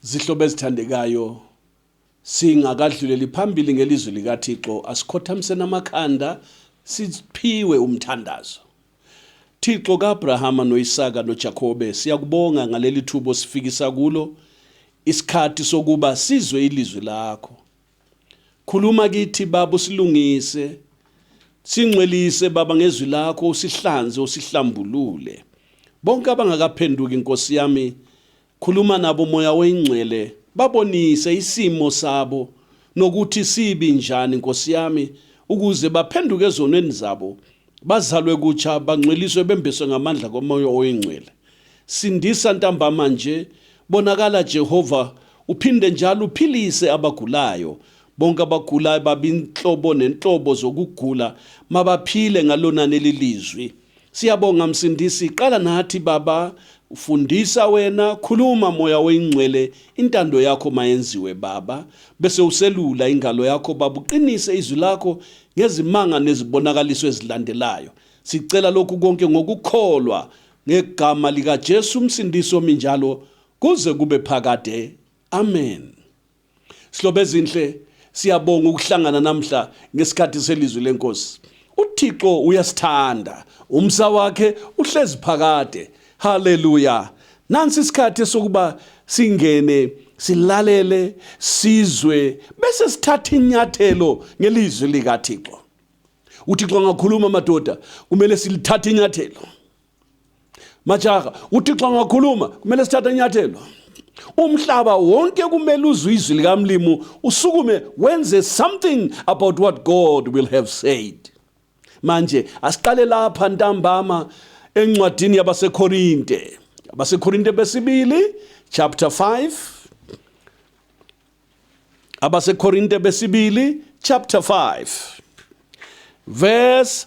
Zihlobo ezithandekayo, singakadluleli phambili ngelizwi likaThixo, asikhothamiseni amakhanda siphiwe umthandazo. Thixo kaAbrahama noIsaka noJakobe, siyakubonga ngaleli thuba osifikisa kulo isikhathi sokuba sizwe ilizwi lakho. Khuluma kithi baba usilungise, singcwelise baba ngezwi lakho, usihlanze, usihlambulule. Bonke abangakaphenduki Nkosi yami Khuluma nabo Moya oyingcwele babonise isimo sabo nokuthi sibi njani nkosiyami ukuze baphenduke ezonweni zabo bazalwe kutsha bangcweliswe bembeswe ngamandla komoya oyingcwele sindisa ntambama nje bonakala Jehova uphinde njalo uphilise abagulayo bonke abagulayo babinhlobo nenhlobo zokugula mabaphile ngalona nelilizwi Siyabonga Msindisi, qala nathi Baba, fundisa wena, khuluma moya oyingcwele, intando yakho mayenziwe Baba, bese uselula ingalo yakho Baba, uqinise izwi lakho ngezimanga nezibonakaliso ezilandelayo. Sicela lokhu konke ngokukholwa ngegama likaJesu uMsindisi omi njalo kuze kube phakade. Amen. Sihlobo ezinhle siyabonga ukuhlangana namhla ngesikhathi selizwi lenkosi. UThixo uyasithanda, umsa wakhe uhlezi phakade. Haleluya! Nansi isikhathi sokuba singene silalele sizwe bese sithatha inyathelo ngelizwi likaThixo. UThixo angakhuluma madoda, kumele silithathe inyathelo. Majaha, uThixo angakhuluma, kumele sithathe inyathelo. Umhlaba wonke kumele uzwe izwi likamlimu usukume wenze something about what God will have said. Manje asiqale lapha ntambama encwadini yabaseKorinte. AbaseKorinte besibili chapter 5 AbaseKorinte besibili chapter 5 verse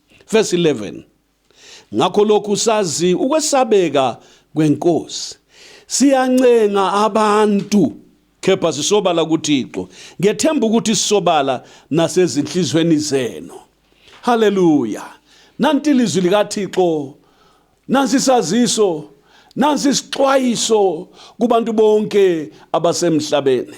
Verse 11. Ngakho lokhu sazi ukwesabeka kwenkosi. Siyancenga abantu kepha sisobala kuThixo. Ngethemba ukuthi sisobala nasezinhlizweni zenu. Haleluya. Nanti ilizwi likaThixo. Nansi isaziso. Nansi isixwayiso kubantu bonke abasemhlabeni.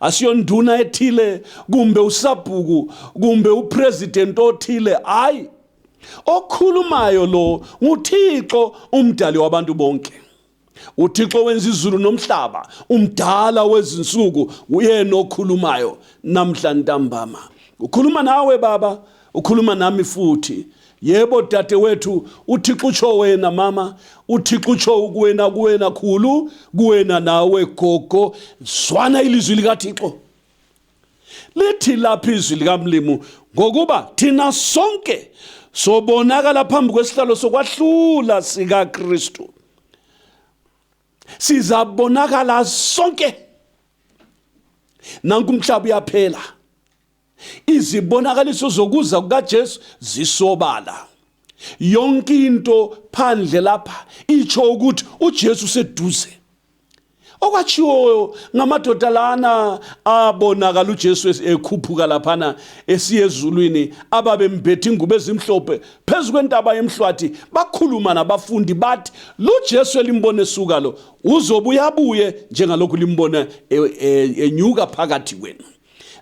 asiyonduna ethile kumbe usabhuku kumbe upresident othile hayi okhulumayo lo nguthixo umdali wabantu bonke uthixo wenza izulu nomhlaba umdala wezinsuku uyena okhulumayo namhla ntambama ukhuluma nawe baba ukhuluma nami futhi Yebo dadewethu, uThixo utsho wena mama, uThixo utsho kuwena kuwena khulu, kuwena nawe gogo, zwana ilizwi likaThixo. Lithi lapha izwi likamlimu ngokuba thina sonke sobonakala phambi kwesihlalo sokwahlula sikaKristu. Sizabonakala sonke. Nanku umhlaba uyaphela. Izibonakaliso zokuza kukaJesu zisobala. Yonke into phandle lapha icho ukuthi uJesu seduze. Okwachiwo ngamadoda lana abonakala uJesu ekhuphuka laphana esiye ezulwini ababembethe ingubo ezimhlophe phezu kwentaba yemhlwathi bakhuluma nabafundi bathi lo Jesu elimbone suka lo uzobuya buye njengalokhu limbona e, e, enyuka phakathi kwenu.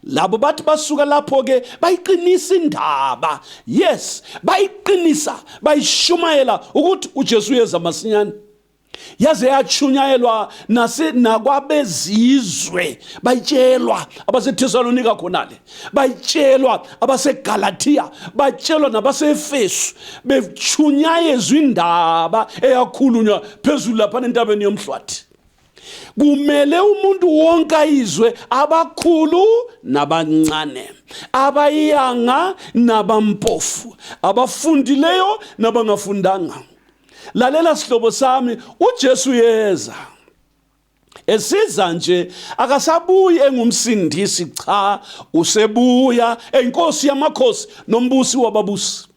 labo bathi basuka lapho ke bayiqinisa indaba yes bayiqinisa bayishumayela ukuthi uJesu uyeza masinyane yaze yachunyayelwa nase nakwabezizwe bayitshelwa abaseThesalonika khonale bayitshelwa abaseGalatia batshelwa nabaseEfesu bechunyayezwa indaba eyakhulunywa phezulu lapha entabeni yomhlwathi kumele umuntu wonke ayizwe abakhulu nabancane abayanga nabampofu abafundileyo nabangafundanga lalela sihlobo sami uJesu yeza esiza nje akasabuyi engumsindisi cha usebuya enkosi yamakhosi nombusi wababusi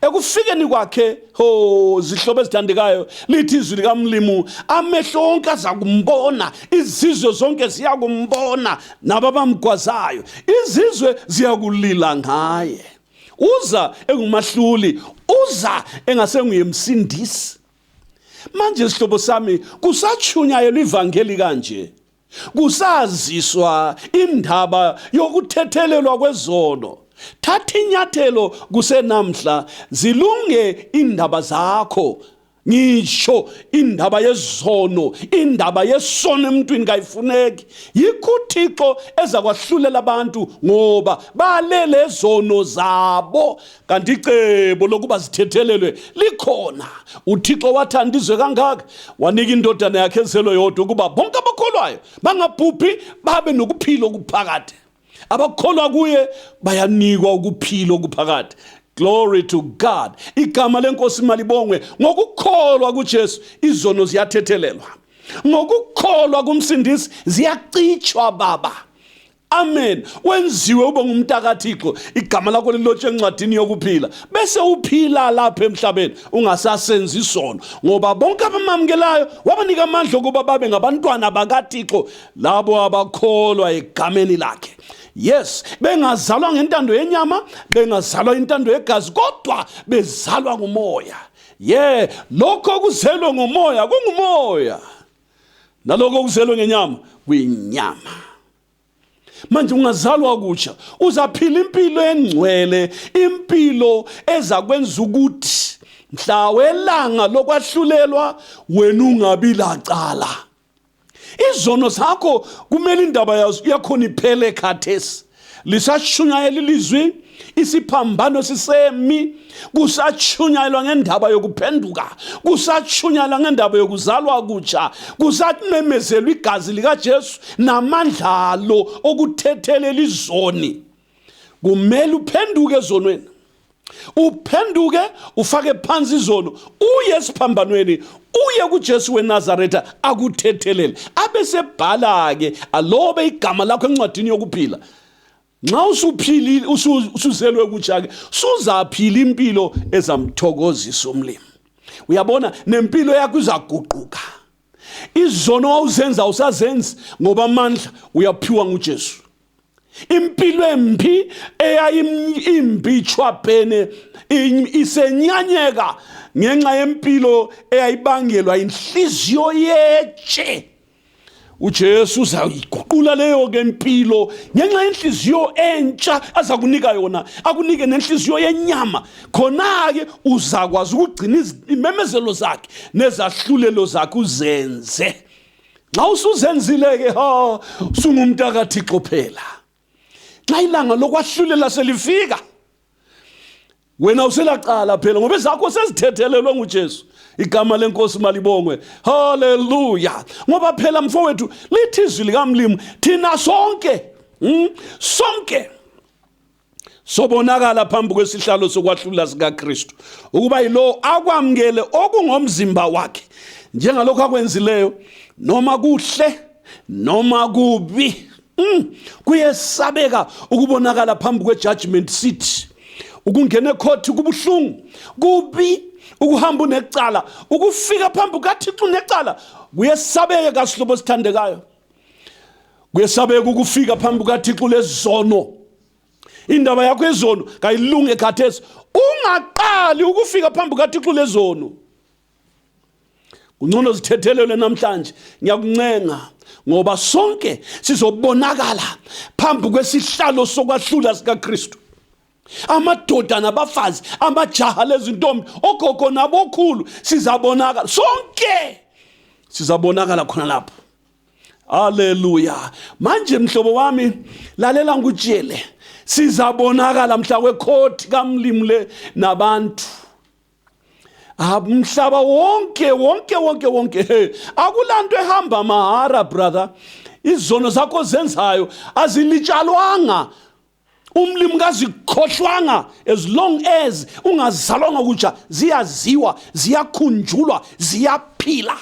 ekufikeni kwakhe ho zihlobo ezithandekayo lithi izwi likamlimu amehlo onke aza kumbona izizwe zonke ziya kumbona nabo abamgwazayo izizwe ziyakulila ngaye uza engumahluli uza engasenguyemsindisi manje sihlobo sami kusachunyayelwa ivangeli kanje Kusaziswa indaba yokuthethelelwa kwezono. Thatha inyathelo kusenamhla, zilunge indaba zakho ngisho indaba yezono indaba yesono emntwini kayifuneki yikho uthixo ezakwahlulela abantu ngoba balele zono zabo kanti icebo lokuba zithethelelwe likhona uthixo wathanda izwe kangaka wanika indodana yakhe ezelwe yodwa ukuba bonke abakholwayo bangabhubhi babe nokuphila okuphakade abakholwa kuye bayanikwa ukuphila okuphakade glory to god igama lenkosi malibongwe ngokukholwa kujesu izono ziyathethelelwa ngokukholwa kumsindisi ziyacitshwa baba Amen. Wenziwe ube ngumntakaThixo, igama lakho lilotshe encwadini yokuphila. Bese uphila lapha emhlabeni ungasasenzi isono ngoba bonke abamamukelayo wabanika amandla okuba babe ngabantwana bakaThixo labo abakholwa egameni lakhe. Yes, bengazalwa ngentando yenyama, bengazalwa intando yegazi kodwa bezalwa ngumoya. Yeah, lokho kuzelwe ngomoya kungumoya. naloko okuzelwe ngenyama kwinyama manje ungazalwa kutsha uzaphila impilo engcwele impilo ezakwenza ukuthi mhla welanga lokwahlulelwa wena ungabi lacala izono zakho kumele indaba yazo yakhona iphele khathesi lisashunyayela ilizwi isiphambano sisemi kusashunyayelwa ngendaba yokuphenduka kusashunyayelwa ngendaba yokuzalwa kutsha kusamemezelwa igazi likaJesu namandla alo okuthethelela izoni kumele uphenduke ezonweni uphenduke ufake phansi izono uye esiphambanweni uye kuJesu weNazaretha akuthethelele abesebhala ke alobe igama lakho encwadini yokuphila nxa usuphilile usuzelwe kutsha ke suzaphila impilo ezamthokozisa umlimi uyabona nempilo yakho izaguquka izono wawuzenza awusazenzi ngoba amandla uyaphiwa nguJesu impilo embi eyayimbi chwabhene isenyanyeka ngenxa yempilo eyayibangelwa inhliziyo yetshe uJesu uzayiguqula leyo ke impilo ngenxa yenhliziyo entsha azakunika yona akunike nenhliziyo yenyama khona-ke uzakwazi ukugcina imemezelo zakhe nezahlulelo zakhe uzenze nxa usuzenzile-ke ha sungumuntu akathixo phela nxa ilanga lokwahlulela selifika wena uselaqala phela ngoba ezakho sezithethelelwe ngujesu igama lenkosi malibongwe haleluya ngoba phela mfowethu lithi izwi likamlimu thina sonke mm, sonke sobonakala phambi kwesihlalo sokwahlula sikaKristu ukuba yilowo akwamukele okungomzimba wakhe njengalokho akwenzileyo noma kuhle noma kubi mm. kuyesabeka ukubonakala phambi kwe-judgment seat ukungena ekhothi kubuhlungu kubi ukuhamba unecala ukufika phambi kukathixo unecala kuyesabeka sihlobo esithandekayo kuyesabeka ukufika phambi kukathixo lezizono indaba yakho ezono kayilunge khathesi ungaqali ukufika phambi kukathixo lezono kungcono zithethelelwe namhlanje ngiyakuncenga ngoba sonke sizobonakala phambi kwesihlalo sokwahlula sikaKristu amadoda nabafazi amajaha lezintombi ogogo nabokhulu sizabonakala sonke sizabonakala khona lapho Haleluya. Manje mhlobo wami lalela ngikutshele sizabonakala mhla wekhothi kamlimu le nabantu ah, mhlaba wonke wonke wonke wonke he akulanto ehamba mahara brother izono zakho zenzayo azilitshalwanga umlimi kazikhohlwanga as long as ungazalwanga kutsha ziyaziwa ziyakhunjulwa ziyaphila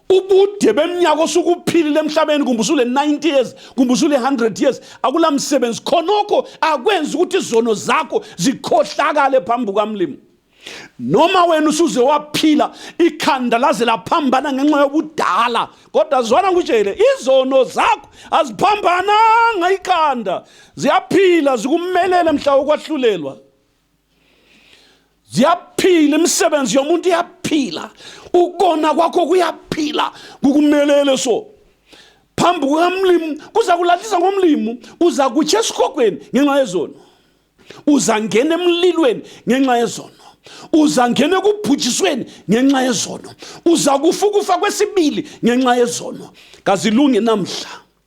ubude beminyaka osukuphilile emhlabeni kumbe usule 90 years kumbe usule 100 years akula msebenzi khonokho akwenzi ukuthi izono zakho zikhohlakale phambi kukamlimi noma wena usuze waphila ikhanda laze laphambana ngenxa yobudala kodwa zwana ngikutshele izono zakho aziphambananga ikhanda ziyaphila zikumelele mhla ukwahlulelwa ziyaphila imisebenzi yomuntu iyaphila ukona kwakho kuyaphila kukumelele so phambi kukamlimu kuza kulahlisa ngomlimu uza kutsha esikhogweni ngenxa yezono uza ngena emlilweni ngenxa yezono uza ngena ekubhujisweni ngenxa yezono uza kufa ukufa kwesibili ngenxa yezono kazilungi namhla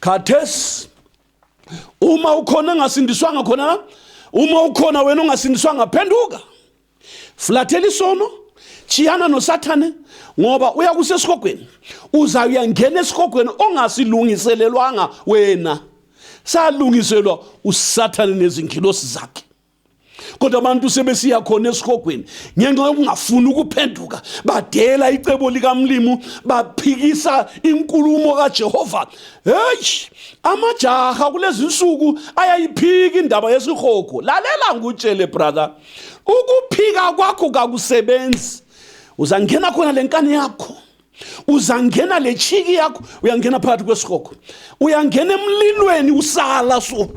khathesi uma ukhona engasindiswanga khona la uma ukhona wena ongasindiswanga phenduka flathela isono chiyana nosathane ngoba uya kusesihogweni uza uyangena esihogweni ongasilungiselelwanga wena salungiselwa usathane nezingilosi zakhe kodwa abantu sebesiya khona esihogweni ngenxa yokungafuni ukuphenduka badela icebo likamlimu baphikisa inkulumo kaJehova hey amajaha kulezi nsuku ayayiphika indaba yesihogo lalela ngutshele brother ukuphika kwakho kakusebenzi uzangena khona lenkani yakho uzangena le chiki yakho uyangena phakathi kwesihogo uyangena emlilweni usala so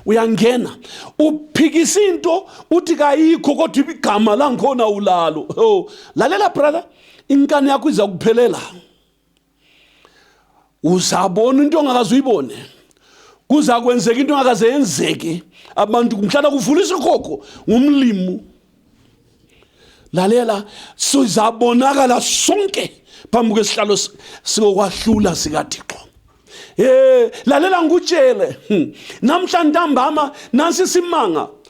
uyangena uphikisa into uthi kayikho kodwa igama langikhona ulalo oh lalela brother inkani yakho iza kuphelela uzabona into ongakaze uyibone kuza kwenzeka into engakaze yenzeke abantu mhlala kuvula isikhokho ngumlimu lalela sizabonakala sonke phambi kwesihlalo sikokwahlula sikathixo Eh lalela ngikutshele hmm. namhla ntambama nansi simanga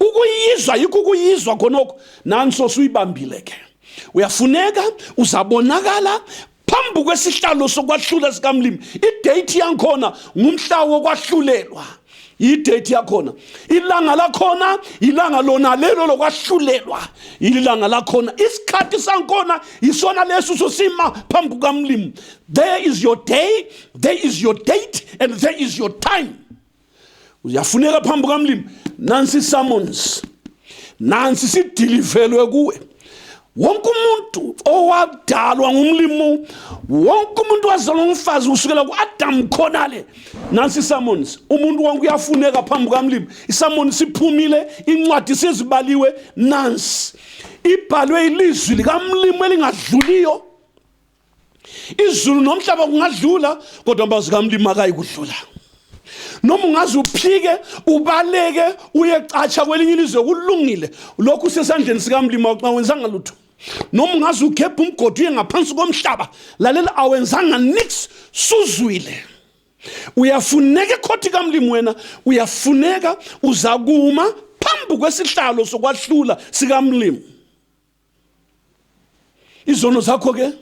ukuyizwa yikho ukuyizwa khonokho nanso suyibambile ke uyafuneka uzabonakala phambi kwesihlalo sokwahlula sikamlimi idate yangikhona ngumhla wokwahlulelwa idate yakhona ilanga lakhona ilanga lona lelo lokwahlulelwa ilanga lakhona isikhathi sangikhona yisona leso sosima phambi kukamlimi there is your day there is your date and there is your time uyafuneka phambi kukamlimi nansi summons nansi sidilivelwe kuwe wonke umuntu owadalwa ngumlimu wonke umuntu wazalwa ngumfazi kusukela ku-adamu khonale nansi isamonisi umuntu wonke uyafuneka phambi kukamlimu isamonisi iphumile incwadi sezibaliwe nansi ibhalwe ilizwi likamlimu elingadluliyo izulu nomhlaba kungadlula kodwa amazwi kamlimi akayikudlula noma ungaze uphike ubaleke uyecatsha kwelinye ilizwe kulungile lokhu usesandleni sikamlimi xa wenzanga lutho noma ungaze ugebhe umgodi uye ngaphansi komhlaba lalela awenzanga nix suzwile uyafuneka ekhothi kamlimi wena uyafuneka uzakuma phambi kwesihlalo sokwahlula sikamlimi izono zakho ke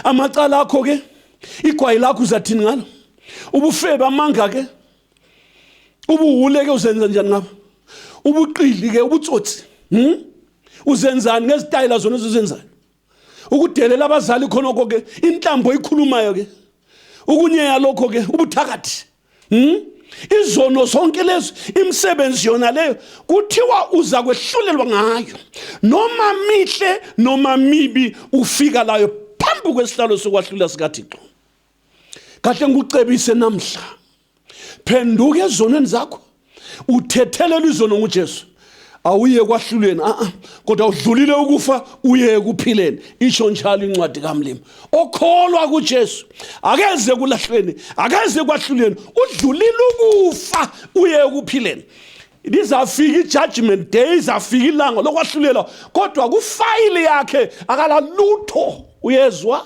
amacala akho ke igwayi lakho uzathini ngalo ubufebe amanga ke ubuwule ke uzenza njani ngabo ubuqili ke ubutsotsi hm uzenzani ngezitayela zona ezizenzayo ukudelela abazali khonoko ke inhlambo ikhulumayo ke ukunyeya lokho ke ubuthakathi Hmm? izono zonke lezi imisebenzi yona leyo kuthiwa uza kwehlulelwa ngayo noma mihle noma mibi ufika layo phambi kwesihlalo sokwahlula sikathixo kahle ngikucebise namhla phenduka ezonweni zakho uthethelelwa izono ngujesu awuye kwahlulweni a kodwa udlulile ukufa uye ekuphileni isho njalo incwadi kamlimi okholwa kujesu akeze kulahlweni akeze kwahlulweni udlulile ukufa uye ekuphileni lizafika i-judgment day izafika ilanga lokwahlulela kodwa kufayile yakhe akalalutho uyezwa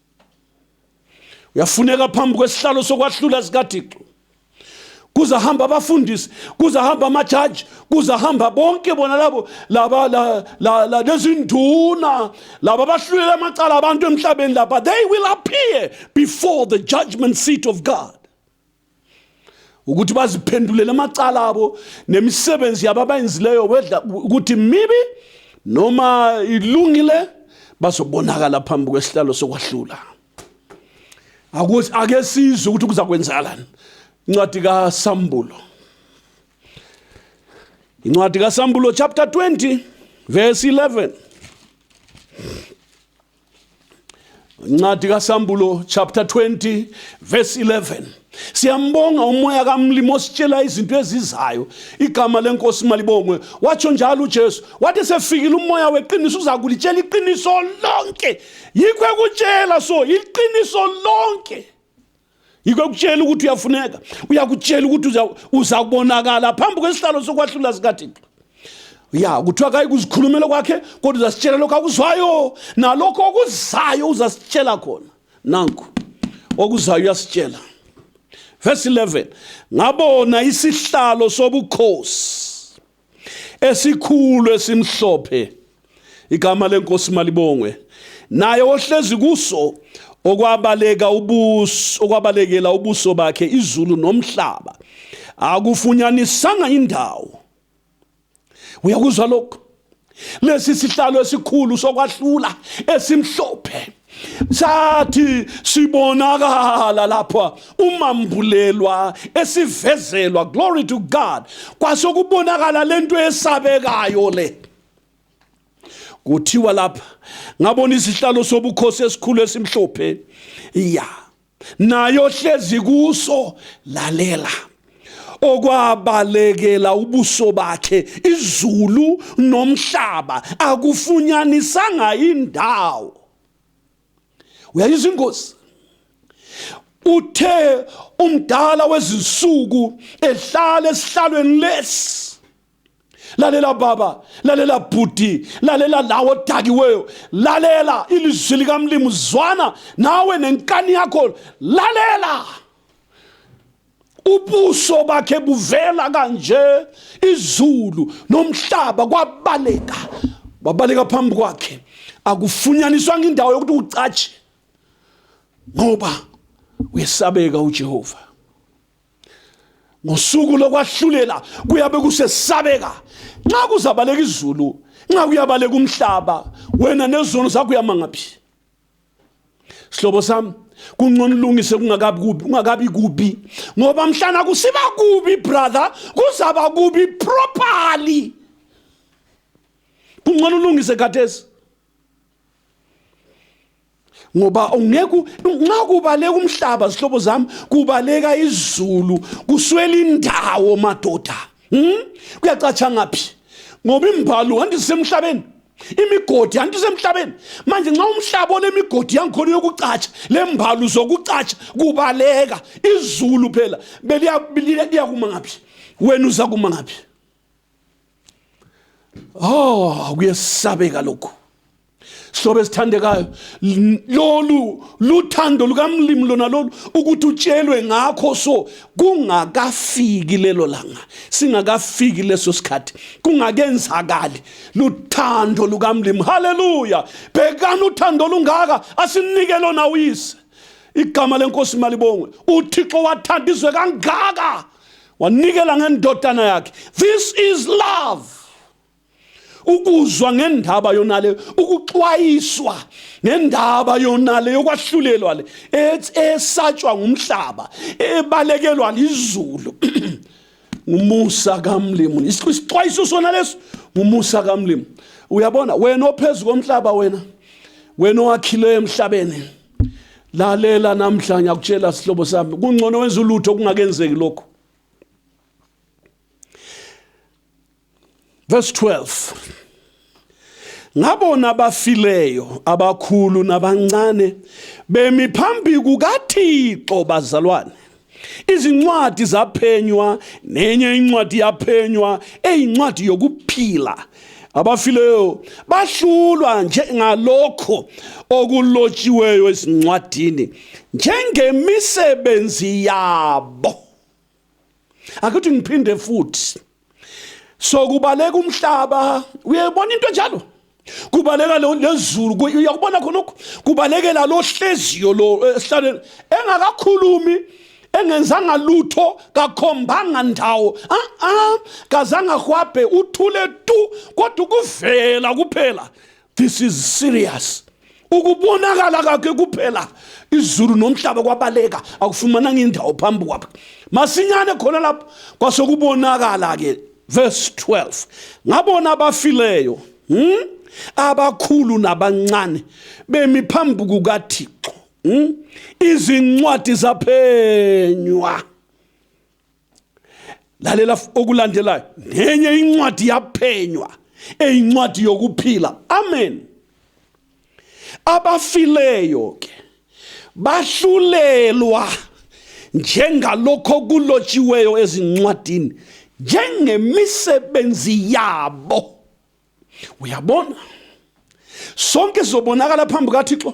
uyafuneka phambi kwesihlalo sokwahlula sikathixo kuze hamba abafundisi kuze hamba amajaji kuze hamba bonke bona labo laba la, la, la, lezinduna laba bahlulela amacala abantu emhlabeni laba they will appear before the judgment seat of god ukuthi baziphendulele amacala abo nemisebenzi yabo abayenzileyo wedla ukuthi mibi noma ilungile bazobonakala phambi kwesihlalo sokwahlula ake sizwe ukuthi kuza kwenzakalani incwadi kasambulo incwadi kasambulo chapter 20 verse 11 Ncwadi kaSambulo chapter 20 verse 11 Siyambonga umoya kamlimo ositshela izinto ezizayo igama lenkosi malibongwe watsho njalo uJesu wathi sefikile umoya weqiniso uza kulitshela iqiniso lonke yikho ekutshela so iqiniso lonke yikho ekutshela ukuthi uyafuneka uyakutshela ukuthi uza kubonakala phambi kwesihlalo sokwahlula sikathixo ya kuthiwa kayi kuzikhulumela kwakhe kodwa uzasitshela lokho akuzwayo nalokho okuzayo uzasitshela khona nanku okuzayo uyasitshela verse 11 ngabona isihlalo sobukhosi esikhulu esimhlophe igama lenkosi malibongwe naye ohlezi kuso okwabaleka ubuso okwabalekela ubuso bakhe izulu nomhlaba akufunyanisanga indawo uyakuzwa lokho lesi sihlalo esikhulu sokwahlula esimhlophe sathi sibonakala lapha umambulelwa esivezelwa glory to God kwase kubonakala lento esabekayo le kuthiwa lapha ngabona isihlalo sobukhosi esikhulu esimhlophe ya yeah. naye ohlezi kuso lalela okwabalekela ubuso bakhe izulu nomhlaba akufunyanisanga indawo uyayizwa ingozi uthe umdala wezinsuku ehlala esihlalweni lesi lalela baba lalela bhuti lalela lawo odakiweyo lalela ilizwi likamlimu zwana nawe nenkani yakho lalela ubuso bakhe buvela kanje izulu nomhlaba kwabaleka babaleka phambi kwakhe akufunyaniswanga indawo yokuthi ucatshe ngoba uyesabeka uJehova ngosuku lokwahlulela kuyabe kusesabeka nxa kuzabaleka izulu nxa kuyabaleka umhlaba wena nezono zakho uyamangaphi sihlobo sami kungcono ulungise kungakabi kubi kungakabi kubi ngoba mhlana kusiba kubi brother kuzaba kubi properly kungcono ulungise khathesi ngoba ungeke nxa kubaleka umhlaba zihlobo zami kubaleka izulu kuswela indawo madoda hmm? kuyacatsha ngaphi ngoba imbhalo hanti sisemhlabeni imigodi hanti usemhlabeni manje nxa umhlaba olemigodi yangikhona yokucatsha le mbhalo uzokucatsha kubaleka izulu phela beliyakuma ngaphi wena uzakuma ngaphi oh kuyesabeka lokhu silobe esithandekayo lolu luthando lukamlimi lona lolu ukuthi utshelwe ngakho so kungakafiki lelo langa singakafiki leso sikhathi kungakenzakali luthando lukamlimi haleluya bhekani uthando olungaka asinike lona uyise igama lenkosi malibongwe uthixo wathanda izwe kangaka wanikela ngendodana yakhe this is love ukuzwa ngendaba yonale ukuxwayiswa ngendaba yonale yokwahlulelwa le esatshwa ngumhlaba ebalekelwa lizulu ngumusa kamlimu isixwayiso sona leso ngumusa kamlimu uyabona wena ophezulu komhlaba wena wena owakhileyo emhlabeni lalela namhla ngiyakutshela sihlobo sami kungcono wenza ulutho kungakenzeki lokho verse 12 ngabona abafileyo abakhulu nabancane bemi phambi kukaThixo bazalwane Izincwadi zaphenywa nenye incwadi yaphenywa eyincwadi yokuphila. Abafileyo bahlulwa njengalokho okulotshiweyo ezincwadini njengemisebenzi yabo. Akuthi ngiphinde futhi so kubaleka umhlaba uyebona into enjalo kubaleka lezulu uyakubona khona lokhu kubalekela lo hleziyo lo eh, esihlaleni engakakhulumi engenzanga lutho kakhombanga ndawo a a kazanga hwabhe uthule tu kodwa ukuvela kuphela this is serious ukubonakala kakhe kuphela izulu nomhlaba kwabaleka akufumananga indawo phambi kwakhe masinyane khona lapho kwase kubonakala ke verse 12 ngabona abafileyo hmm? abakhulu nabancane bemi phambi kukathixo hmm? izincwadi zaphenywa lalela okulandelayo nenye incwadi yaphenywa eyincwadi yokuphila amen abafileyo ke bahlulelwa njengalokho kulotshiweyo ezincwadini njengemisebenzi yabo uyabona sonke sizobonakala phambi kaThixo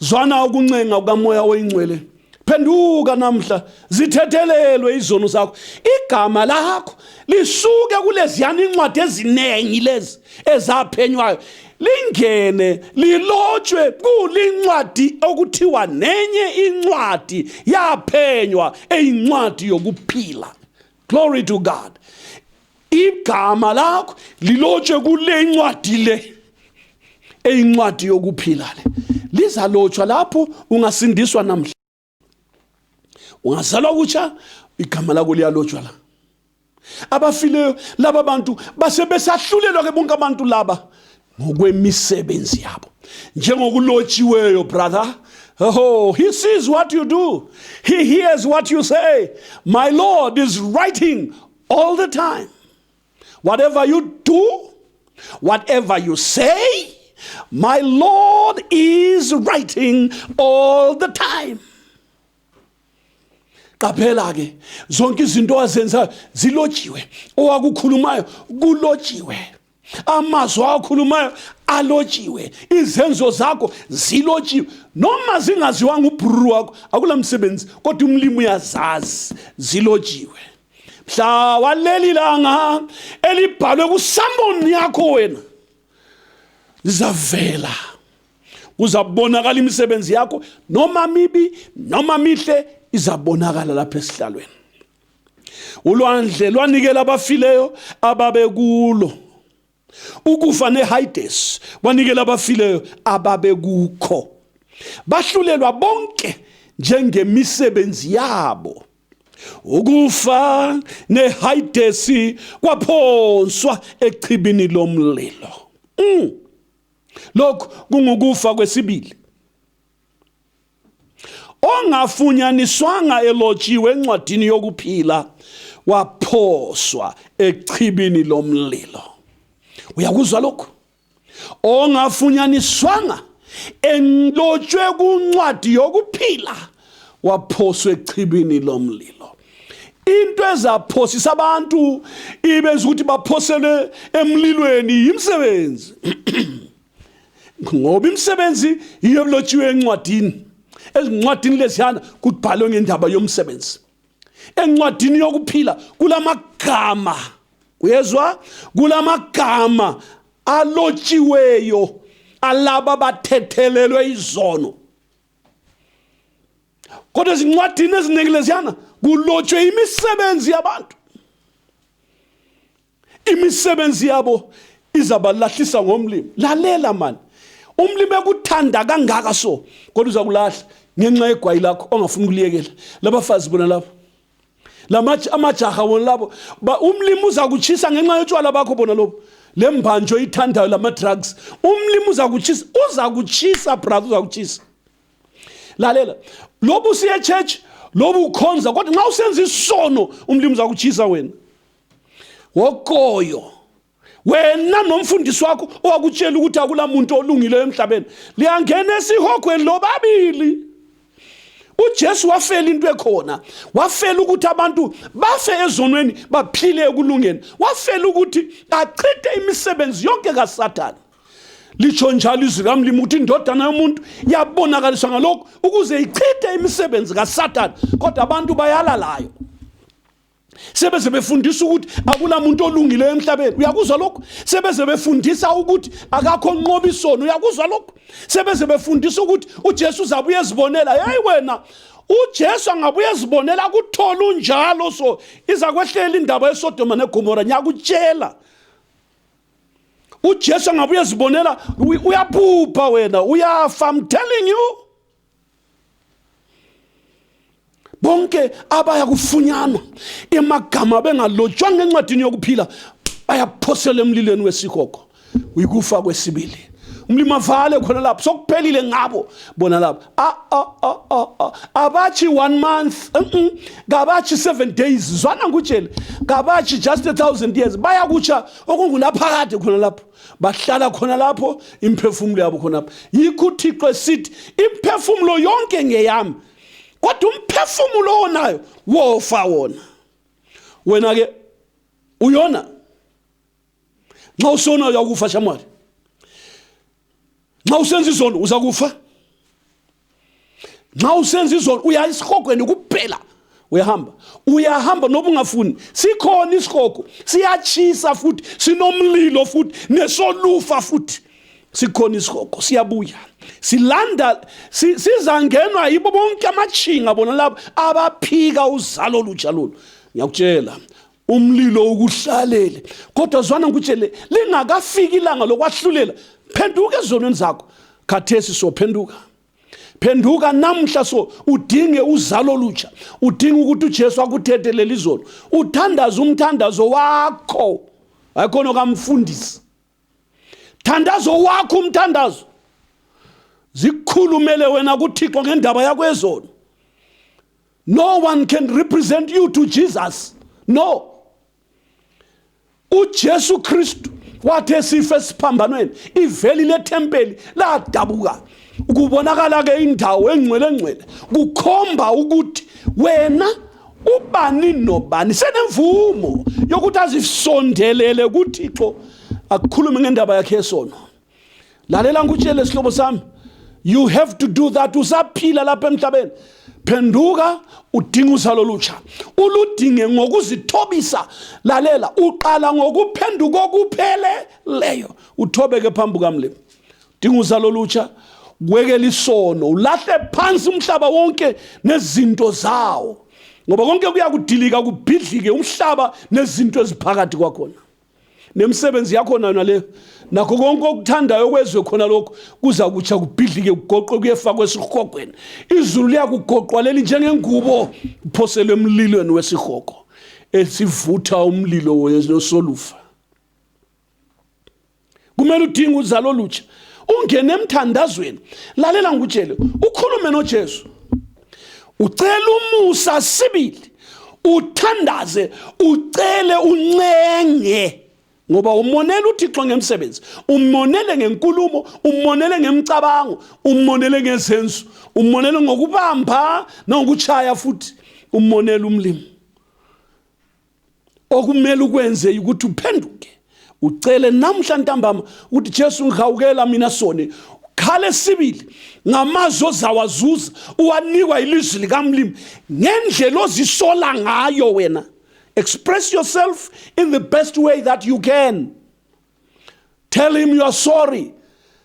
Zwana ukuncenga kukamoya oyingcwele. Phenduka namhla, zithethelelwe izono zakho. Igama lakho lisuke kuleziyana incwadi eziningi lezi ezaphenywayo. Lingene lilotshwe kulincwadi okuthiwa nenye incwadi yaphenywa eyincwadi yokuphila. Glory to God. Igama lakho lilotshwe kule incwadi le. Eyincwadi yokuphila le. Lizalotshwa lapho ungasindiswa namhla. Ungazalwa kutsha igama lakho liyalotshwa la. Abafileyo laba bantu base besahlulelwa ke bonke abantu laba ngokwemisebenzi yabo njengokulotshiweyo brother Oh, he sees what you do. He hears what you say. My Lord is writing all the time. Whatever you do, whatever you say, my Lord is writing all the time. qaphela ke zonke izinto azenza zilojiwe owakukhulumayo kulojiwe amazwi awakhulumayo alotshiwe izenzo zakho zilotshiwe noma zingaziwanga ubhururu wakho akula msebenzi kodwa umlimi uyazazi zilotshiwe mhla waleli langa elibhalwe kusamboni yakho wena lizavela kuzabonakala imisebenzi yakho noma mibi noma mihle izabonakala lapha esihlalweni ulwandle lwanikela abafileyo ababekulo ukufa nehayidesi kwanikela abafileyo ababekukho bahlulelwa bonke njengemisebenzi yabo ukufa nehayidesi kwaphonswa echibini lomlilo mm. lokhu kungukufa kwesibili ongafunyaniswanga elotshiwe encwadini yokuphila waphoswa echibini lomlilo uyakuzwa lokhu ongafunyaniswanga enlotshwe kuncwadi yokuphila waphoswa echibini lomlilo into ezaphosisa abantu ibenza ukuthi baphosele emlilweni yimsebenzi ngoba imisebenzi yiyo elotshiwe encwadini ezincwadini leziyana kubhalwe ngendaba yomsebenzi encwadini yokuphila kulamagama uyezwa kulamagama alotshiweyo alaba bathethelelwe izono kodwa ezincwadini eziningi leziyana kulotshwe imisebenzi yabantu Imisebenzi yabo izabalahlisa ngomlimi. Lalela mani. Umlimi ekuthanda kangaka so kodwa uzakulahla ngenxa yegwayi lakho ongafuni kuliyekela. Labafazi bona labo. Lamaji amajaha wona labo. Ba umlimi uzakuchisa ngenxa yotshwala bakho bona lobo. Lembanjo ithandayo lama drugs. Umlimi uzakuchisa, uzakuchisa brother uzakuchisa. Lalela. Lobu siye church, lobu ukhonza kodwa nxa usenza isono umlimi uzakuchisa wena. wokoyo wena nomfundisi wakho owakutshela ukuthi akula muntu olungileyo emhlabeni liyangena esihogweni lobabili uJesu wafela into ekhona wafela ukuthi abantu bafe ezonweni baphile ekulungeni wafela ukuthi achithe imisebenzi yonke kaSathane lisho njalo izwi kamlimi ukuthi indodana yomuntu yabonakaliswa ngalokhu ukuze ichithe imisebenzi kaSathane kodwa abantu bayalalayo sebeze befundisa ukuthi akunamuntu olungileyo emhlabeni uyakuzwa lokho sebeze befundisa ukuthi akakho nqoba isono uyakuzwa lokho sebeze befundisa ukuthi uJesu uzabuye ezibonela hey wena uJesu angabuye ezibonela kuthola unjalo so iza kwehlela indaba yeSodoma neGomora ngiyakutshela uJesu angabuye ezibonela uyaphupha wena uyafa i'm telling you bonke abaya kufunyanwa emagama bengalotshwanga encwadini yokuphila bayaphosela emlilweni wesihogo uyikufa kwesibili umlimi avale khona lapho sokuphelile ngabo bona lapho abathi one month kabathi seven days zwana ngutshele kabathi just a thousand years bayakutsha okungunaphakade khona lapho bahlala khona lapho imphefumulo yabo khonapho yikho uthixo esithi imphefumulo yonke ngeyami kodwa umphefumulo onayo wofa wona wena-ke uyona nxa usona uyakufa shamwari nxa usenza izono uza kufa nxa usenza izono uya esihogweni kuphela uyahamba uyahamba noba ungafuni sikhona isihogo siyachisa futhi sinomlilo futhi nesolufa futhi sikhona isihogo siyabuya silanda sizangenwa yibo bonke amathinga bona labo abaphika uzalo olutsha lolu ngiyakutshela umlilo ukuhlalele kodwa zwana ngikutshele lingakafiki ilanga lokwahlulela phenduka ezonweni zakho khathesi sophenduka phenduka namhla so udinge uzalo lutsha udinga ukuthi uJesu akuthethe leli zolo uthandaza umthandazo wakho hayi khona kamfundisi thandazo wakho umthandazo zikhulumele wena kuthixo ngendaba yakwezono no one can represent you to jesus no ujesu kristu wathi esife esiphambanweni iveli lethempeli ladabuka la Ukubonakala-ke indawo engcwele ngcwele kukhomba ukuthi wena ubani nobani senemvumo yokuthi azisondelele kuthixo akukhulume ngendaba yakhe yesono lalela ngikutshele sihlobo sami you have to do that usaphila lapha emhlabeni phenduka udinga uzalo lutsha uludinge ngokuzithobisa lalela uqala ngokuphenduka okupheleleyo uthobeke phambi kukamlimi Dinga uzalo olutsha, kwekela isono, ulahle phansi umhlaba wonke nezinto zawo. Ngoba konke kuya kudilika kubhidlike umhlaba nezinto eziphakathi kwakhona. Nemisebenzi yakho nayo nale nakho konke okuthandayo kwezwe khona lokho kuza kutsha kubhidlike kugoqwe kuyefakwa esihogweni. Izulu liyakugoqwa leli njengengubo kuphoselwe emlilweni wesihogo esivutha umlilo wesolufa. kumele udinge uzalo olutsha ungene emthandazweni lalela ngikutshele ukhulume nojesu ucela umusa sibili uthandaze ucele uncenge ngoba umonela uthixo ngemsebenzi umonele ngenkulumo umonele ngemicabango umonele ngezenzo umonele ngokubamba nangokuchaya futhi umonela umlimi okumele ukwenze ukuthi uphenduke ucele namhla ntambama ukuthi Jesu ngihawukela mina soni khale sibili ngamazwi ozawazuza uwanikwa ilizwi likamlimi ngendlela ozisola ngayo wena express yourself in the best way that you can tell him you are sorry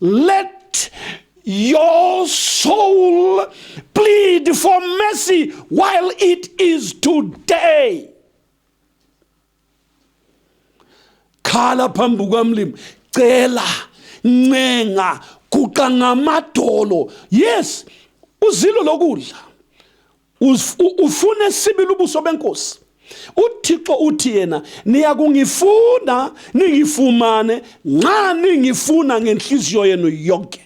Let your soul plead for mercy while it is today. Khala phambi kukamlimi, cela, ncenga, guqa ngamadolo. Yes, uzilo lokudla. ufune sibili ubuso benkosi uthixo uthi yena niyakungifuna ningifumane nxa ningifuna ngenhliziyo yenu yonke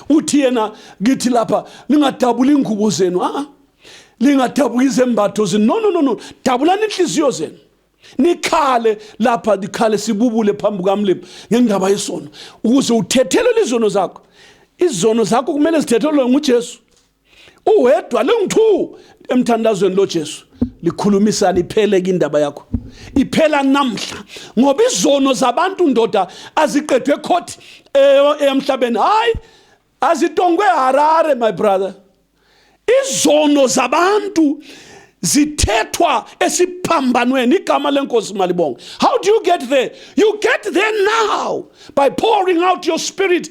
uthi yena ngithi lapha ningadabula ingubo zenu a lingadabuka izembatho zenu no no no no dabulani inhliziyo zenu nikhale lapha nikhale sibubule phambi kukamlimi ngendaba yesono ukuze uthethelele izono zakho izono zakho kumele zithethelelwe ngujesu uwedwa lingu-two emthandazweni lojesu likhulumisana iphele ke indaba yakho iphela namhla ngoba izono zabantu ndoda aziqedwe ekhothi emhlabeni hhayi azitongwe harare my brother izono zabantu zithethwa esiphambanweni igama lenkosi malibonga how do you get there you get there now by pouring out your spirit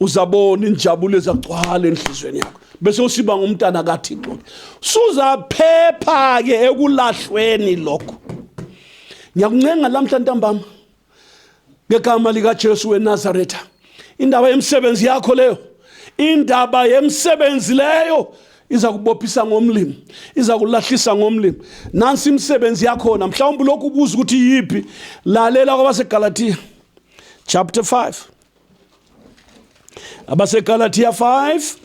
uzabona injabulo ezagcwala enhlizweni yakho bese usiba ngumntana kathixo ke suzaphepha ke ekulahlweni lokho ngiyakuncenga lamhla ntambama ngegama likajesu wenazaretha indaba yemisebenzi yakho leyo indaba yemisebenzi leyo iza kubophisa ngomlimi iza kulahlisa ngomlimi nansi imisebenzi yakhona mhlawumbe lokhu ubuza ukuthi yiphi lalela kwabasegalatiya chapter 5 abaseGalatia 5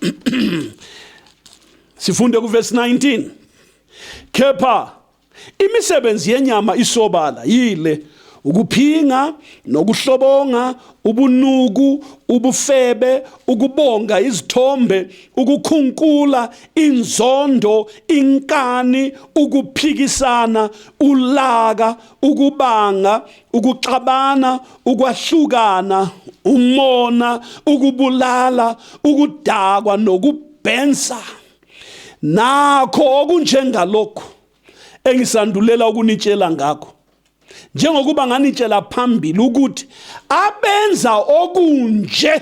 sifunde kuverse 19 kepha imisebenzi yenyama isobala yile ukuphinga nokuhlobonga ubunuku ubufebe ukubonga izithombe ukukhunkula inzondo inkani ukuphikisana ulaka ukubanga ukuxabana, ukwahlukana, umona, ukubulala, ukudakwa nokubhensa. Nakho okunjengalokhu engisandulela ukunitshela ngakho. Njengokuba nganitshela phambili ukuthi abenza okunje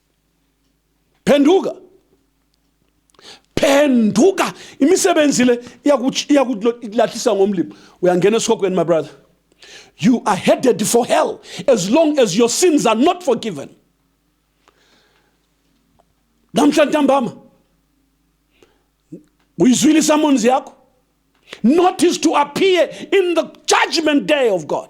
phenduka phenduka imisebenzi le iyakulahlisa ngomlimi uyangena esikhokhweni my brother you are headed for hell as long as your sins are not forgiven namhla ntambama uyizwile isamonzi yakho notice to appear in the judgment day of god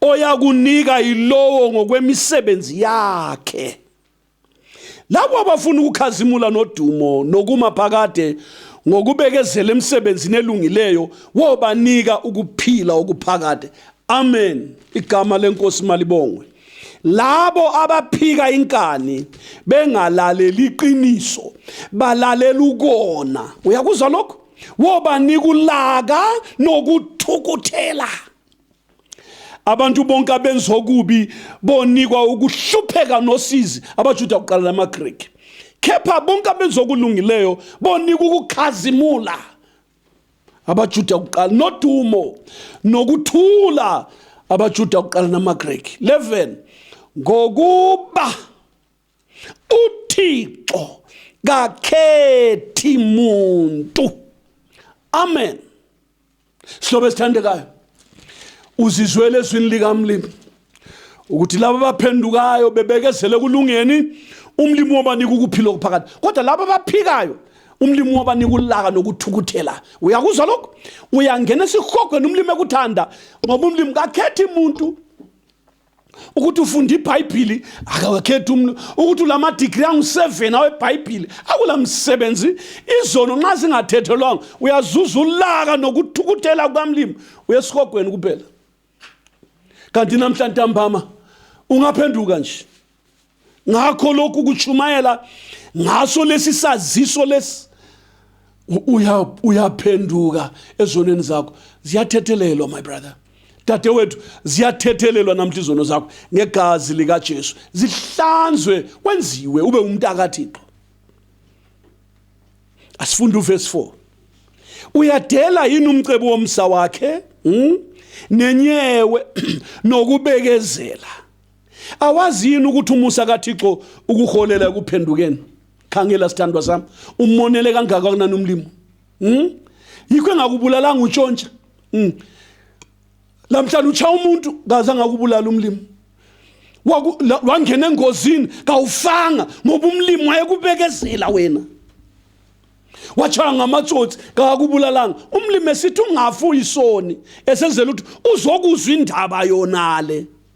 oyakunika yilowo ngokwemisebenzi yakhe labo abafuna ukukhazimula nodumo nokuma phakade ngokubekezela emsebenzini elungileyo wobanika ukuphila okuphakade amen igama lenkosi malibongwe labo abaphika inkani bengalaleli iqiniso balalela ukona uyakuzwa lokho woba nikulaka nokuthukuthela abantu bonke abenza okubi bonikwa ukuhlupheka nosizi abajuda kuqala namagriki kepha bonke abenza okulungileyo bonikwa ukukhazimula abajuda kuqala nodumo nokuthula abajuda kuqala namagriki 11 ngokuba uthixo kakhethi muntu amen silobe sithandekayo uzizwele ezwini likamlimi ukuthi laba baphendukayo bebekezele kulungeni umlimi wabanika ukuphila okuphakade kodwa laba baphikayo umlimi wabanika ulaka nokuthukuthela uyakuzwa lokho uyangena esihogweni umlimi ekuthanda ngoba umlimi kakhethi muntu ukuthi ufunda ibhayibhili akawakhethi umntu ukuthi ulamadigri angu-seven awebhayibhili akula msebenzi izono nxa zingathethelwanga uyazuza ulaka nokuthukuthela kukamlimi uyesihogweni kuphela kanti namhla ntambama ungaphenduka nje ngakho lokhu kuchumayela ngaso lesi saziso lesi uyaphenduka ezonweni zakho ziyathethelelwa my brother dadewethu ziyathethelelwa namhla izono zakho ngegazi likaJesu zihlanzwe wenziwe ube umuntu akaThixo asifunde uverse 4 uyadela yini umcebo womsa wakhe hmm? nenyewe nokubekezela Awazi yini ukuthi umusa kaThixo ukuholela ekuphendukeni? Khangela sithandwa sami, umonele kangaka kunani umlimo. Mhm. Yikho engakubulalanga utshontsha. Mhm. Lamhlanje ucha umuntu kaze angakubulala umlimo. Wangena engozini kawufanga ngoba umlimo wayekubekezela wena. wachaya ngamatsotsi kakubulalanga umlimi esithi ungafi uyisoni esenzela ukuthi uzokuzwa indaba yonale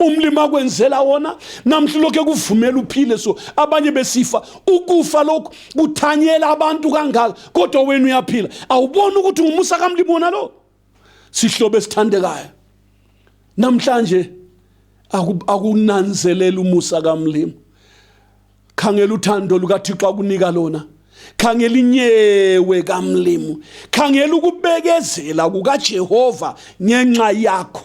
umlimi akwenzela wona namhla lokhu ekuvumela uphile so abanye besifa ukufa lokhu kuthanyela abantu kangaka kodwa wena uyaphila awuboni ukuthi ngumusa kamlimi wona lo sihlobo esithandekayo namhlanje akunanzelela umusa kamlimi khangela uthando lukathixo akunika lona khangela inyewe kamlimu khangela ukubekezela kukajehova ngenxa yakho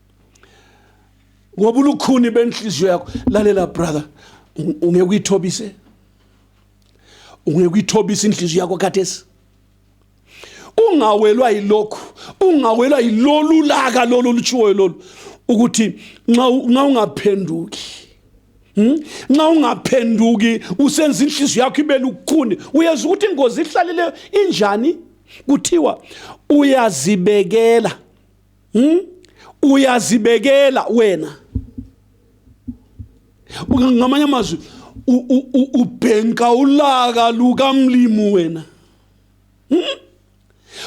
ngoba ulukhuni benhliziyo yakho lalela brother ungeke uyithobise ungeke uyithobise inhliziyo yakho kathesi ungawelwa yilokhu ungawelwa yilolu laka lolu lutshiwoyo lolu ukuthi nxa ungaphenduki hmm? nxa ungaphenduki usenza inhliziyo yakho ibe lukhuni uyeza ukuthi ingozi ihlalele injani kuthiwa uyazibekela hmm? uyazibekela wena ngamanye amazwi ubhenka ulaka lukamlimu wena hmm?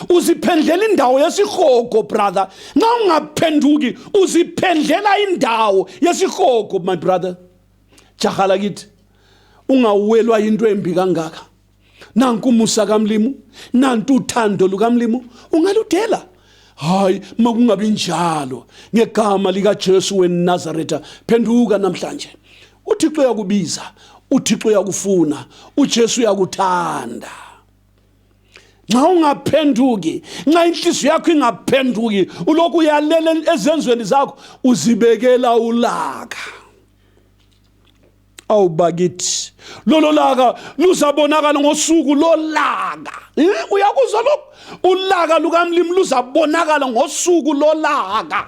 uziphendlela indawo yesihogo brother nxa ungaphenduki uziphendlela indawo yesihogo my brother jahala kithi ungawelwa into embi kangaka nanku umusa kamlimu nantu uthando lukamlimu ungaludela hayi makungabi njalo ngegama likaJesu weNazaretha phenduka namhlanje uThixo uyakubiza uThixo uyakufuna uJesu uyakuthanda nxa ungaphenduki nxa inhliziyo yakho ingaphenduki ulokhu uyalela ezenzweni zakho uzibekela ulaka awu bakithi lolo laka luzabonakala ngosuku lolaka eh, uyakuzwa lokho ulaka lukamlimi luzabonakala ngosuku lolaka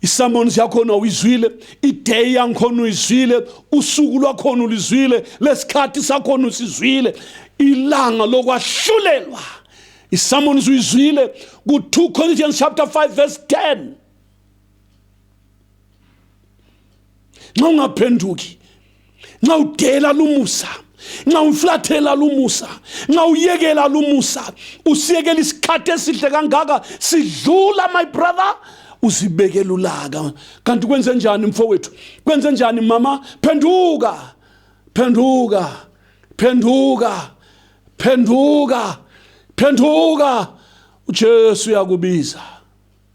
isamoni yakhona uyizwile ideyi yangikhona uyizwile usuku lwakhona ulizwile lesikhathi sakhona usizwile ilanga lokwahlulelwa isamoni uyizwile ku 2 Corinthians chapter 5 verse 10 nxa ungaphenduki nxa udela lumusa nxa umflathela lumusa nxa uyekela lumusa usiyekela isikhathi esihle kangaka sidlula my brother uzibekela ulaka kanti kwenze njani mfowethu kwenze njani mama phenduka phenduka phenduka phenduka phenduka uJesu uyakubiza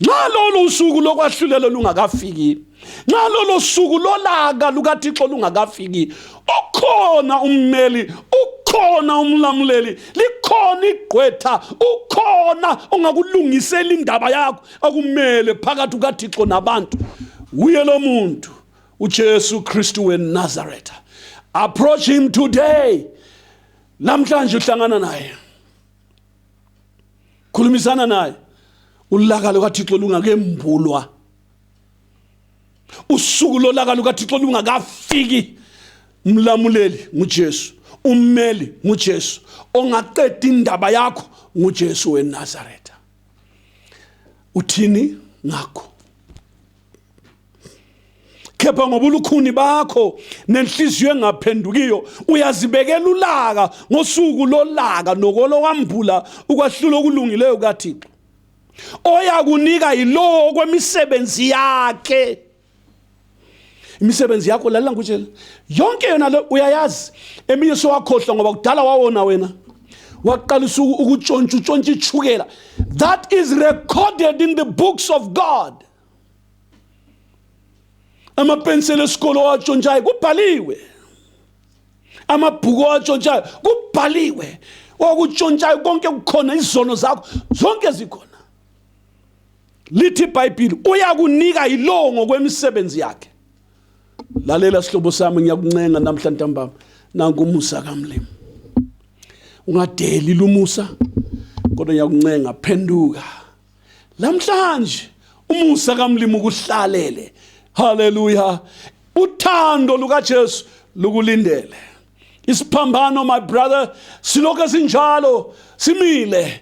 nxa lolo suku lokwahlulelo lungakafiki nxa lolo suku lolaka lukathixo lungakafiki ukhona ummeli ukhona umlamuleli likhona igqwetha ukhona ongakulungisela indaba yakho okumele phakathi kukathixo nabantu wuye lo muntu ujesu kristu wenazaretha approach him today namhlanje uhlangana naye khulumisana naye ulaka lukaThixo lungakembulwa usuku lolaka lukaThixo lungakafiki mlamuleli nguJesu ummeli nguJesu ongaqeda indaba yakho nguJesu weNazaretha uthini ngakho kepha ngoba ulukhuni bakho nenhliziyo engaphendukiyo uyazibekela ulaka ngosuku lolaka nokolowambula ukwahlula okulungileyo kaThixo oyakunika yilowo kwemisebenzi yakhe imisebenzi yakho lalela ngikutshela yonke yona le uyayazi eminye sowakhohlwa ngoba kudala wawona wena waqalisa ukutshontsha utshontsha ichukela that is recorded in the books of god amapenseli esikole owatshontshayo kubhaliwe amabhuku owatshontshayo kubhaliwe okutshontshayo konke kukhona izono zakho zonke zikhona lithi ibhayibhili uyakunika yilowo ngokwemisebenzi yakhe lalela sihlobo sami ngiyakuncenga namhla ntambama nanku umusa kamlimi ungadeli lumusa kodwa ngiyakuncenga phenduka Namhlanje umusa kaMlimu kuhlalele. Hallelujah. Uthando lukaJesu lukulindele. Isiphambano my brother silokho sinjalo simile.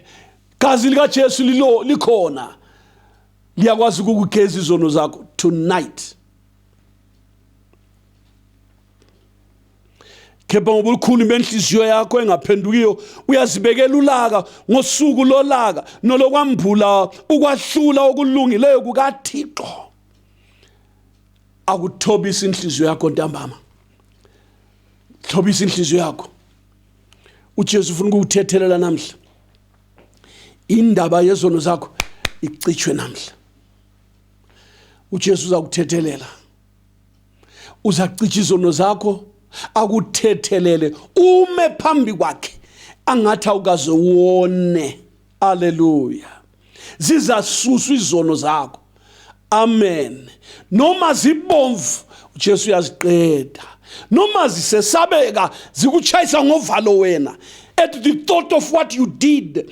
Gazi likaJesu lilo likhona. Liyakwazi ukugeza izono zakho tonight. kepha ngoba ulukhuni benhliziyo yakho engaphendukiyo uyazibekela ulaka ngosuku lolaka nolokwambula ukwahlula okulungileyo kukathixo akuthobisa inhliziyo yakho ntambama thobisa inhliziyo yakho ujesu ufuna ukukuthethelela namhla indaba yezono zakho icitshwe namhla ujesu uza kuthethelela uzacija izono zakho akuthethelele ume phambi kwakhe angathi awukaze wone aleluya zizasuswa izono zakho amen noma zibomvu uJesu uyaziqeda noma zisesabeka zikuchayisa ngovalo wena at the thought of what you did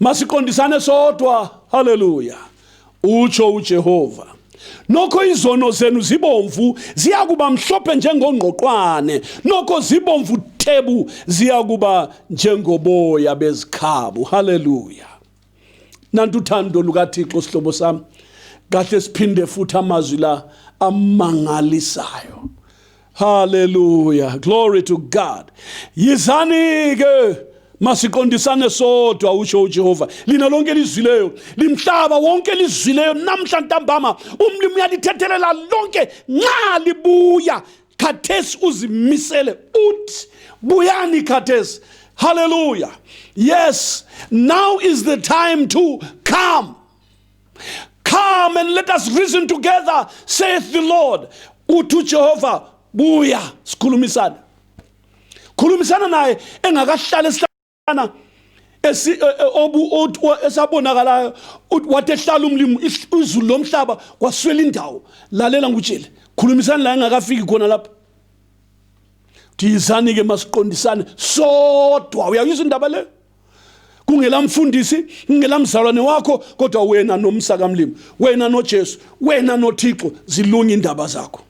masiqondisane sodwa haleluya utsho ujehova nokho izono zenu zibomvu ziyakuba mhlophe njengongqoqwane nokho zibomvu thebu ziyakuba njengoboya bezikhabu haleluya nantu uthando lukathixo sihlobo sami kahle siphinde futhi amazwi la amangalisayo Hallelujah. Glory to God. Yizani ke masiqondisane sodwa usho uJehova lina lonke lizwileyo limhlaba wonke lizwileyo namhla ntambama umlimi uyalithethelela lonke nxa libuya khathesi uzimisele uthi buyani khathesi hallelujah yes now is the time to come Come and let us reason together, saith the Lord. Uthi uJehova, buya sikhulumisane. Khulumisana naye engakahlali esihlana esi eh, eh, obu esabonakalayo wathi ehlala umlimo izulu lomhlaba kwaswela indawo lalela ngutshele khulumisani la engakafiki khona lapho thizani ke masiqondisane sodwa uyayizwa indaba leyo kungelamfundisi kungelamzalwane wakho kodwa wena nomsa kamlimi wena noJesu wena noThixo zilunga indaba zakho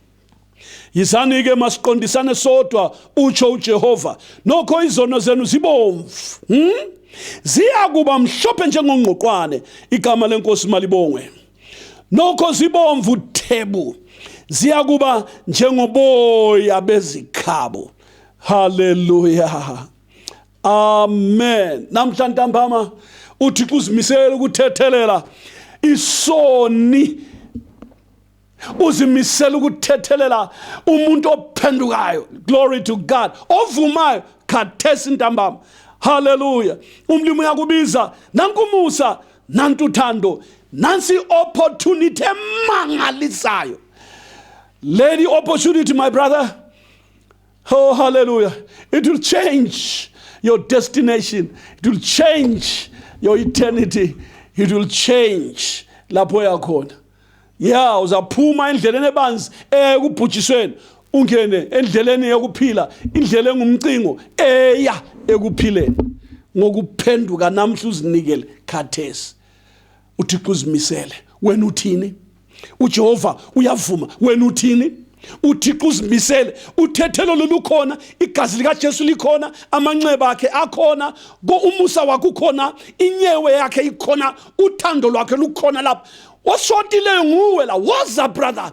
yizani ke masiqondisane sodwa utsho uJehova nokho izono zenu zibomvu hmm? ziya kuba mhlophe njengongqoqwane igama lenkosi malibongwe nokho zibomvu thebu ziya kuba njengoboya bezikhabo haleluya amen namhla ntambama uthixo uzimisele ukuthethelela isoni uzimisela ukuthethelela umuntu ophendukayo glory to god ovumayo khathesi ntambama haleluya umlimi uyakubiza nankumusa nantuthando nansi opportunity emangalisayo lady opportunity my brother Oh, hallelujah. It will change your destination. It will change your eternity. It will change lapho yakhona. Yeah, uzaphuma endleleni ebanzi eya ekubhujisweni ungene endleleni yokuphila, indlela engumcingo eya ekuphileni. Ngokuphenduka namhla uzinikele khathesi. uthixo uzimisele wena uthini ujehova uyavuma wena uthini uthixo uzimisele uthethelo lolukhona igazi likajesu likhona amanxeba akhe akhona umusa wakhe ukhona inyewe yakhe ikhona uthando lwakhe lukhona lapha oshotileyo nguwe la woza brother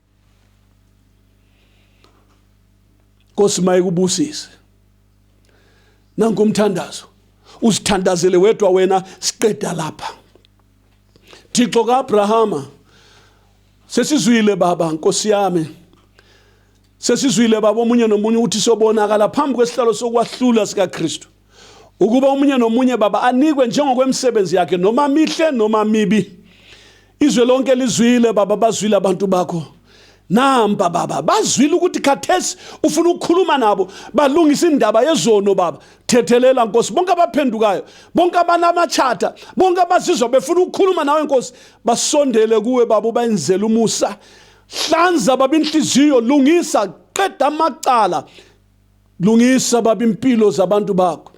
Nkosi mayikubusise nanku umthandazo usithandazele wedwa wena siqeda lapha Thixo kaAbrahama sesizwile baba nkosi yami sesizwile baba omunye nomunye ukuthi sobonakala phambi kwesihlalo sokwahlula sikaKristu ukuba omunye nomunye baba anikwe njengokwemisebenzi yakhe noma mihle noma mibi izwe lonke lizwile baba bazwile abantu bakho namba baba bazwile ukuthi khathesi ufuna ukukhuluma nabo balungisa indaba yezono baba thethelela nkosi bonke abaphendukayo bonke abanamachatha bonke abazizwa befuna ukukhuluma nawe nkosi basondele kuwe baba ubayenzele umusa hlanza baba inhliziyo lungisa qeda amacala Lungisa baba impilo zabantu bakho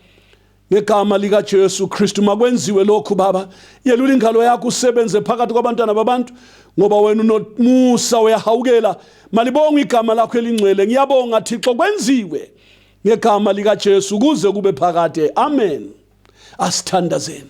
ngegama likaJesu Kristu makwenziwe lokhu baba yelula ingalo yakho usebenze phakathi kwabantwana babantu ngoba wena unomusa uyahawukela malibonga igama lakho elingcwele ngiyabonga Thixo kwenziwe ngegama likaJesu kuze kube phakade amen asithandazeni